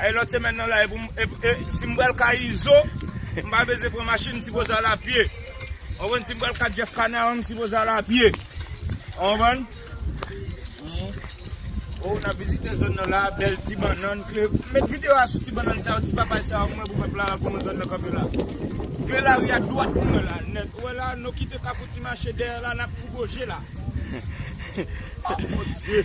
Ae lot semèn nan la epou e sim pral ka izo m pa beze pran machin m sipoze al a pye ou konprann sim pral ka jeff canaran m sipoze al a pye ou konprann ou nap vizite zòn nan la bèl ti bannann kle met video a sou ti bannann sa yo ti papay sa yo m wè pou pèp la pou nou zòn nan kanpe la kle lari a dwat m wè la nèt ou wè la nou kite kafou ti mache dèyè la nap pou goje la oh mon Dieu.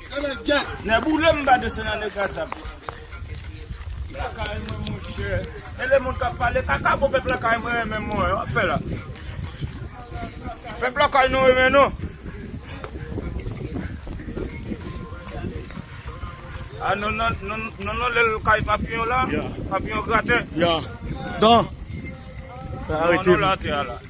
Nèboulem m pa desann an nègras ap lakay mwen monchè e le moun kap pale kaka bon pèp lakay mwen renmen mwen wè wap fè la pèp lakay nou renmen nou a non non non non non lèl kay papiyon la papiyon gratè non non la tè a la.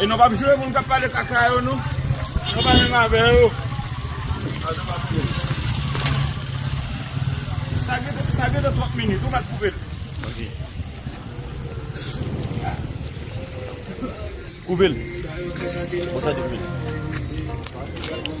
E nou pap joure moun kap pale kaka yo nou. Nou pa menm avè yo. Sa gen de sa gen de twòp minit ou pat koupel. Koupel. Bon sa di minit.